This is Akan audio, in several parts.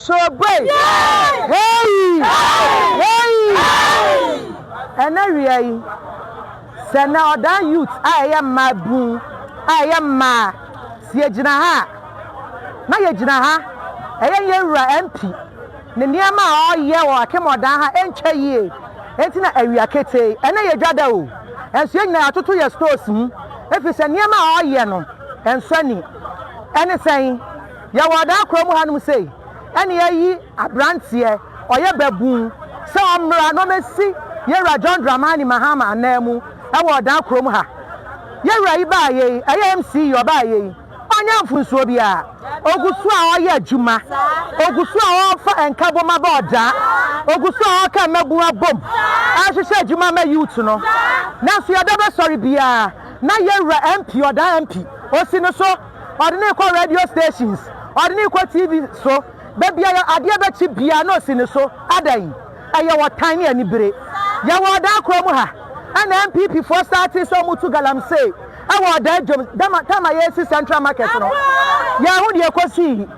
Soro bue! Heii! Heii! Ɛnnɛ wia yi, sɛ nnɛ ɔdan youth a ɛyɛ mmaa bun a ɛyɛ mmaa, sɛ yɛgyina ha a, na yɛgyina ha, ɛyɛ yɛn wura MP ne nneɛma a ɔreyɛ wɔ Akem ɔdan ha ɛntwa yie nti na awia ketee. Ɛnnɛ yɛ dwada o, nso yɛn nyinaa yɛatoto yɛn stores mu, ɛfiri sɛ nneɛma a ɔreyɛ no, ɛnsɔ ani. Ɛne sɛn? Yɛwɔ ɔdaa kura mu hanom sei, ɛne yɛayi aberanteɛ, ɔyɛ babun, sɛ ɔmmra na ɔmmɛsi Yɛwura John Dramani Mahama ananmu wɔ ɔdaa kura mu ha. Yɛwura yi baeɛ yi, ɛyɛ MCE ɔbaeɛ yi, ɔnyɛ mfunsuo biara, ɔgu so a ɔyɛ adwuma, ɔgu so a ɔrefa nkabom aba ɔdaa, ɔgu so a ɔreka mmabun abom rehwehwɛ adwuma ma youth no. Nanso yɛda bɛsɔre biara na Yɛwura MP, ɔdaa MP, ɔsi no so. ɔde no rekɔ radio stations, ɔde no rekɔ TV so, baabiara adeɛ bɛkye biara na ɔsi ne so. Adɛn? Ɛyɛ ɔtan ne anibere. Yɛwɔ Ɔdaa kuro mu ha, ɛna NPP foɔ startee sɛ wɔtu galamsey wɔ Ɔdaa dwom, dama, time a yɛresi Central Market no. Yɛahu deɛ ɛkɔsii.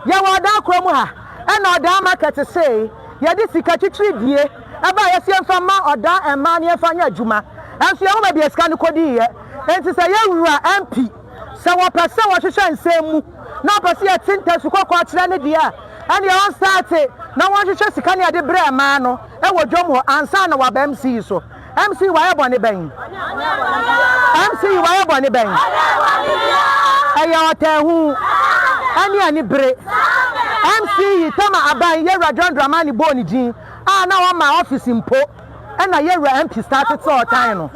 Yɛwɔ Ɔdaa kuro mu ha, ɛna Ɔdaa Market see yɛde sika twitwiridie baeɛ sɛ yɛmfa mma Ɔdaa mmaa na yɛmfa nyɛ adwuma, nso yɛhu baabi a sika no kɔdiiɛ. Enti sɛ yɛwura MP. Sɛ wɔpɛ sɛ wɔhwehwɛ nsɛm mu na wɔpɛ sɛ yɛte nka su kɔkɔɔ kyerɛ no deɛ a, ɛneɛ wɔn starte na wɔn hwehwɛ sika ne ade berɛ mmaa no wɔ dwom hɔ ansa na wɔaba MC so. MC wayɛ bɔne bɛn? MC wayɛ bɔne bɛn? Ɛyɛ ɔtaahu ɛne ani bere. MC Tama Aban Yawura John Dramani bɔɔ ne din a na wɔn ma office mpo. na yɛ wura MP starte sɛ ɔtan no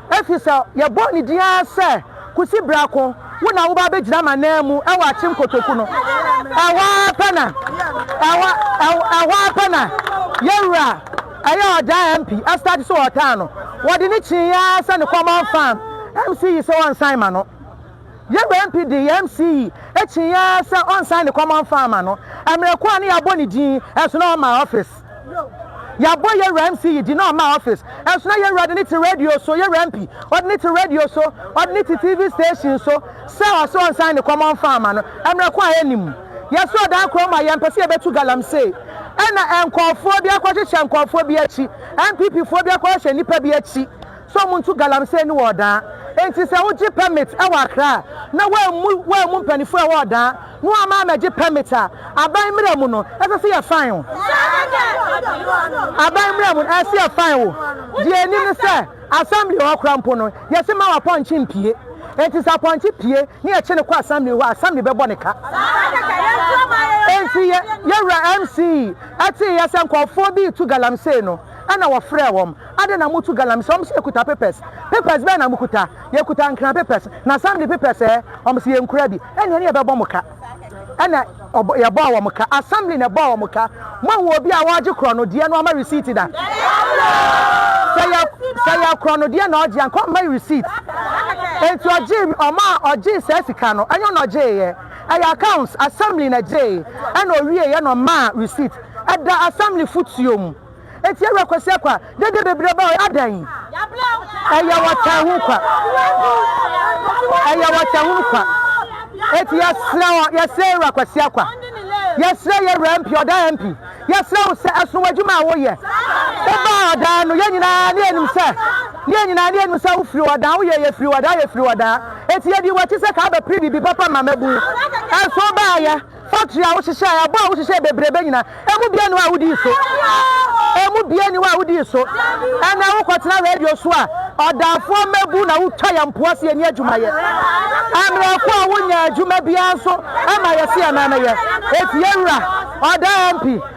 efisɛ yɛbɔɔ ne din ara sɛ kosi bra ko wo na woba abɛgyina m'ananmu wɔ akyem kotoku no ɛhɔ ara pɛ na ɛhɔ ɛhɔ ara pɛ na yɛ wura ɛyɛ ɔdaa MP starte sɛ ɔtan no wɔde ne kyee ara sɛ ne common farm MC yi sɛ ɔnsan ma no yɛ wura MP de yɛ MC yi kyee ara sɛ ɔnsan ne common farm ma no mmerɛ ko a ne yɛabɔ ne din ɛso na ɔma office Yɛabɔ yɛn wura MC yi din na ɔmma office nso na yɛn wura de no te radio so, yɛn wura MP ɔde no te radio so, ɔde no te TV station so sɛ ɔse ɔnsan ne kɔm ɔmfa mma no, mmerɛ ko a ɛnnim. Yɛsɔɔ dan korɔ mu a yɛmpɛ sɛ yɛbɛtu galamsey ɛna nkorɔfoɔ bi akɔhyehyɛ nkorɔfoɔ bi akyi, NPP foɔ bi akɔhyehyɛ nnipa bi akyi. sɛ wɔnto galamsey no wɔ Ɔdaa. Enti sɛ wogye pɛmit wɔ Accra a, na wɔammu wɔammu mpanyinfoɔ a ɛwɔ Ɔdaa na wɔamma ammɛgye pɛmit a, aban mmara mu no, ɛsɛ sɛ yɛ faen wo. Aban mmara mu no, ɛsɛ sɛ yɛ faen wo. Deɛ ɛnim ne sɛ, Assembly hɔ koraa mpo no, yɛse mma w'apɔnkye mpue. Enti sɛ apɔnkye pue na yɛkye no kɔ Assembly hɔ a, Assembly bɛbɔ no ka. Enti yɛ Wura MC teeɛ sɛ nkorɔfoɔ bi retu galamsey no, Ɛna wɔfrɛɛ wɔn, Adɛn na motu galamsey? Wɔse, Yɛkuta papers. Papers bɛn na mokuta? Yɛkuta nkran papers, na assembly papers ɛ? Wɔse, Yɛnkura bi. Ɛne ɛne yɛbɛbɔ mo ka. Ɛna yɛbɔɔ wɔn ka. Assembly na ɛbɔɔ wɔn ka. Moahu obi a ɔregye korɔnodeɛ na wamma receipt da? Sɛ ɛyɛ korɔnodeɛ na ɔregye a, nka ɔmma receipt. Enti ɔgyee, ɔma a ɔgyee saa sika no, ɛnyɛ ɔno na ɔgyeeɛ. Ɛyɛ accounts, assembly na ɛgyee. Ɛna ɔwieeɛ na ɔmaa receipt. Ɛda assembly fotuo mu. Eti Awura Kwasi Akwa, dede bebree ba hɔ, adɛn? Ɛyɛ wɔtanhunu kwa. Ɛyɛ wɔtanhunu kwa. Eti yɛsrɛ wɔ, yɛsrɛ Awura Kwasi Akwa, yɛsrɛ yɛ Awura MP, ɔdaa MP, yɛsrɛ wo sɛ ɛsono w'adwuma a woyɛ. Wobaa ɔdaa no, yɛn nyinaa ne yɛnim sɛ, ne yɛn nyinaa ne yɛnim sɛ wofiri ɔdaa, woyɛ yɛfiri ɔdaa, yɛfiri ɔdaa. Eti yɛdii w'akyi sɛ ka bɛpere biribi papa ma mmabun. Ɛnso wobaayɛ. Factory a wo hyehyɛɛ, ɛbo a wo hyehyɛɛ bebrebe nyina, ɛmu biaa ni hɔ a wo dii so? Ɛmu biaa ni hɔ a wo dii so? Ɛnɛ wo kɔ tena radio so a, ɔdaafoɔ mɛbu na wo twa yɛn mpoa se yɛ ni adwuma yɛ. Ɛmmerɛ ko a wo nyaa adwuma biaa nso ɛma yɛ se yɛ nan yɛ. Efiewura, ɔdaa MP.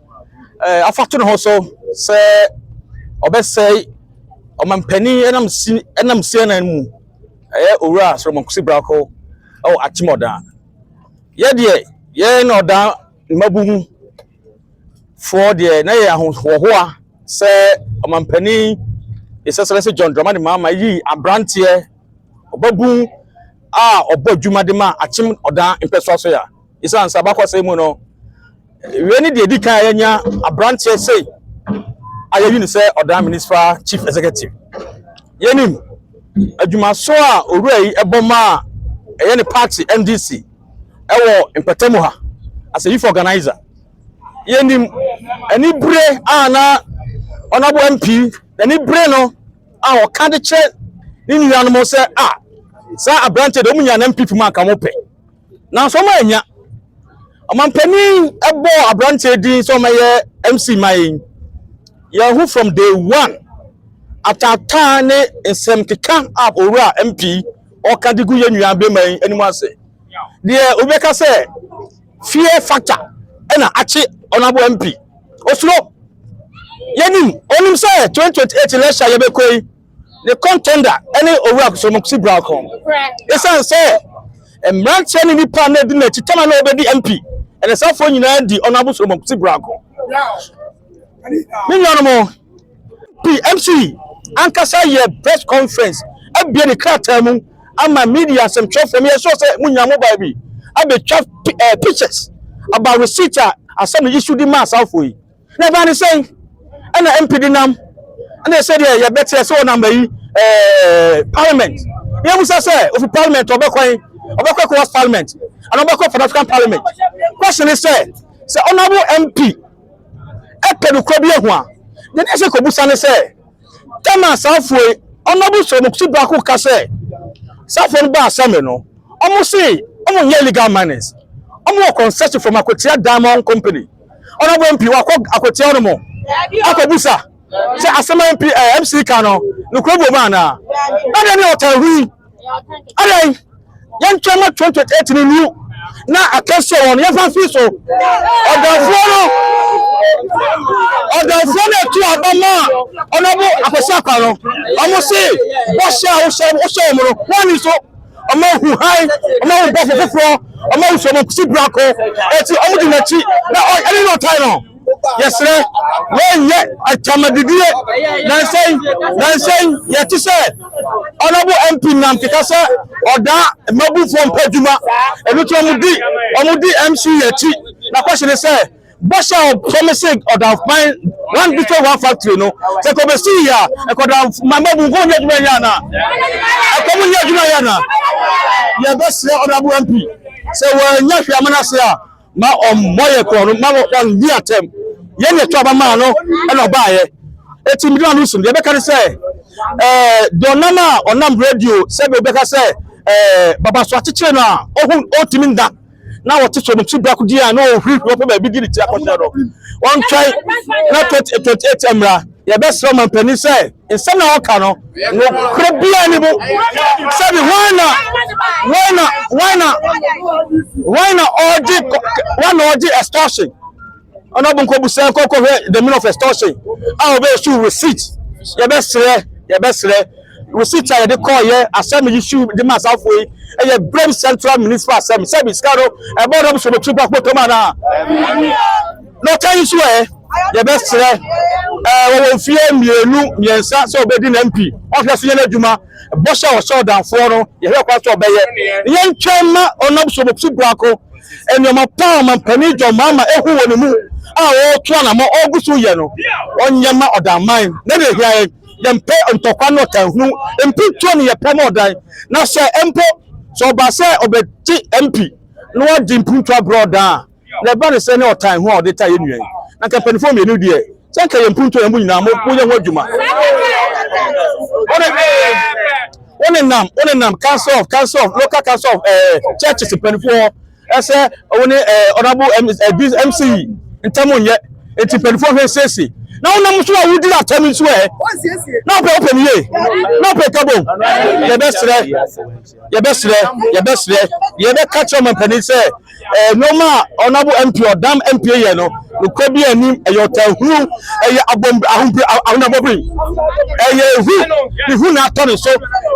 eh, afa to ne ho so sɛ ɔbɛsɛe ɔmampanin ɛnam si ɛnam CNN mu ɛyɛ owura Solomon Kwesi Brako ɛwɔ Akyemmɔdan. Yɛ deɛ yɛn na ɔdan mmabu mu foɔ deɛ na yɛ ahohoahoa sɛ ɔmampanin His Excellency John Dramani Mahama yi aberanteɛ ɔbabun a ɔbɔ adwuma de ma Akyem ɔdan mpɛsoa so ya. Esiane sɛ abakɔsɛm mu no, wei ne deɛ edi kan a yɛanya aberanteɛ sei a yɛyi no sɛ ɔdan municipal chief executive. Yɛnim adwumaso a owura yi bɔ maa ɛyɛ ne party NDC ɛwɔ mpɛtɛmu ha as a youth organizer. Yɛnim anibere a na honorable MP n'anibere no a ɔka de kyerɛ ne nuanom sɛ a saa aberanteɛ deɛ wɔn nyinaa na MPP mu anka wɔn pɛ. nanso wɔn annya. Ɔmampanin bɔɔ aberanteɛ din sɛ ɔmɛyɛ MC ma yɛn. Yɛn ho from day one. Ataataa ne nsɛm keka a owura MP ɔka de gu yɛn nua bɛma yi anim ase. Deɛ obi bɛka sɛ fear factor ɛna akye ɔnabo MP. Osuro. Yɛnim, onim sɛ 2028 election a yɛbɛkɔ yi, ne contender ne Owura Kusuromokusi Brako. Esiane sɛ mmeranteɛ ne nnipa a na ɛdi n'akyi tam a na ɔbɛdi MP ɛne saa foɔ nyinaa di Honorable Kusuromokusi Brako. Me nuanom, PMC ankasa yɛ press conference abie ne krataa mu ama media asɛmtwerɛfoɔ meyɛ sure sɛ mo nyinaa mo baa bi abɛtwa eh, pictures about receipt a asɛm no issue de maa saa foɔ yi. Na ɛbaa ne sɛn? Ɛna MP denam ɛna sɛdeɛ yɛbɛteɛ sɛ ɔnam ayi ɛɛ parliament na yɛbusa sɛ ofi parliament ɔbɛkwan ɔbɛkɔ ECOWAS parliament ana ɔbɛkɔ Pan African parliament question ne sɛ sɛ honorable MP ɛpɛ nokora bi ahu a deɛ ne ɛsɛ kɔbusa ne sɛ tam a saafoɔ yi honorable Solomokusi Brako ka sɛ saafoɔ no baa assembly no wɔn se wɔn nyɛ illegal miners wɔn wɔ concession from Akwatia Diamond Company ɔno bɔ MP wakɔ akɔtia ɔno mo akɔbusa sɛ asɛm MP ɛɛ MC ka no nokura bɔ mu anaa ɛdeɛ ne ɔtaa hu yi ɛdeɛ yɛntwɛn ma 2028 no nu na akɛseɛ wɔ no yɛmfa mfiri so ɔdɔfoɔ no ɔdɔfoɔ no ɛtu aba ma a ɔno bo akɔsi akwa no ɔmo se bɔhyɛ a wohyɛ wohyɛ wɔn no wɔn ani so. wɔn ahu hann, wɔn ahu bɔfo foforɔ, wɔn ahu sɛ wɔn kusi brako, eti wɔn di n'akyi na ɔyɛ ɛne na ɔtan no. Yɛsrɛ, wɔnyɛ atamadidiɛ. Nansɛn, nansɛn, yɛte sɛ Honorable MP Nnamte ka sɛ ɔdaa mmabufoɔ mpa adwuma, ɛno nti wɔn di, wɔn di MC akyi. Na question ne sɛ, Bɔhyɛ a ɔfam se ɔdamfoban one bito one factory no sɛ kɔ bɛsi yi a ɛkɔda mama bu nkɔ nyɛ adwuma yɛ ana ɛkɔ mu nyɛ adwuma yɛ ana yɛbɛsrɛ ɔdabo mp sɛ wɔanya hwɛ amana ase a ma ɔmmɔ yɛ korɔ no ma ɔndi atɛm yɛn yɛ to aba maa no ɛna ɔbaayɛ eti mmiri ano sum deɛ ɛbɛka ne sɛ ɛɛ deɛ ɔnam a ɔnam radio sɛbi ɔbɛka sɛ ɛɛ baba so akyekyere no a ɔho ɔtumi nda na wɔte so no ti biako di a na ɔhurihuri ɔpɛ baabi di ne ti akɔhyɛ no wɔntwɛn na 2028 mmara yɛbɛsrɛ ɔmampanin sɛ nsɛm na wɔka no nokorɛ biara ne mu sɛbi wɔn na wɔn na wɔn na wɔn na ɔgye wɔn na ɔgye extortion ɔno ɔbɔ nkɔ busa nkɔ kɔ hwɛ the meaning of extortion a ɔbɛ issue receipt yɛbɛ srɛ yɛbɛ srɛ receipt a yɛde kɔɔ yɛ asɛm yi issue de ma asafo yi ɛyɛ brem central municipal asɛm sɛbi sika no ɛbɔ ɔdɔm so bɛtiri pa kpɔtɔ mu anaa na ɔka yi so ɛ yɛbɛ srɛ ɛɛ wɔwɔ mfie mmienu mmiɛnsa sɛ ɔbɛdi na mp ɔhwɛ so yɛn adwuma bɔhyɛ a ɔhyɛ ɔdanfoɔ no yɛhwɛ kwan so ɔbɛyɛ yɛntwɛn ma ɔnam so bɛtiri brako nneɛma pa a ɔmampanin John Mahama ahu wɔ ne mu a ɔretu anammɔn ɔregu so yɛ no, ɔnyɛ mma ɔdan man. Na nea ehia yɛn, yɛmpɛ ntɔkwa ne ɔtanhunu. Mpintuo ne yɛpɛ ma ɔdan. Na sɛ mpo sɛ ɔba sɛ ɔbɛgye MP na wadi mpuntuo abrɛ ɔdan a, nea ɛba ne sɛ ne ɔtanhunu a ɔde taa yɛn nua yi. Na anka mpanimfoɔ mmienu deɛ, sɛ nka yɛn mpuntuo yɛn mu nyinaa mo moyɛ ho adwuma wone nam wone nam council of council of local council of eh, churches mpanimfoɔ ɛsɛ wone eh, honorable mc eh, ntam nyɛ nti mpanimfoɔ hwɛ siesie na wonam nso a wodi atam nso ɛ na wopɛ wopɛ no yie na wopɛ kabom yɛbɛserɛ yɛbɛsrɛ yɛbɛsrɛ yɛbɛka kyerɛ ɔman panin sɛ ɛɛ nneɛma a ɔnabo mp ɔdam mp yɛ no nokora bi anim ɛyɛ ɔtanhunu ɛyɛ abom ahompe ahonabɔbiri ɛyɛ ehu ehu na atɔ ne so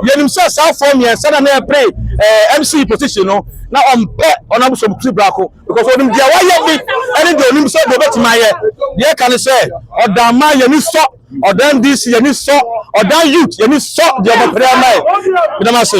yɛnim sɛ saa fɔɔ mmiɛnsa na na ɛpere ɛɛ mc position no na ɔmpɛ ɔnabo sɔmukuri baako because onim deɛ wayɛ bi ɛne deɛ onim sɛ deɛ ɔbɛtumi ayɛ deɛ ɛka ne sɛ ɔdamma yɛni sɔ. Ɔdan DC yɛn ani sɔ ɔdan youth yɛn ani sɔ deɛ ɔmo pere ama yɛ medam ase.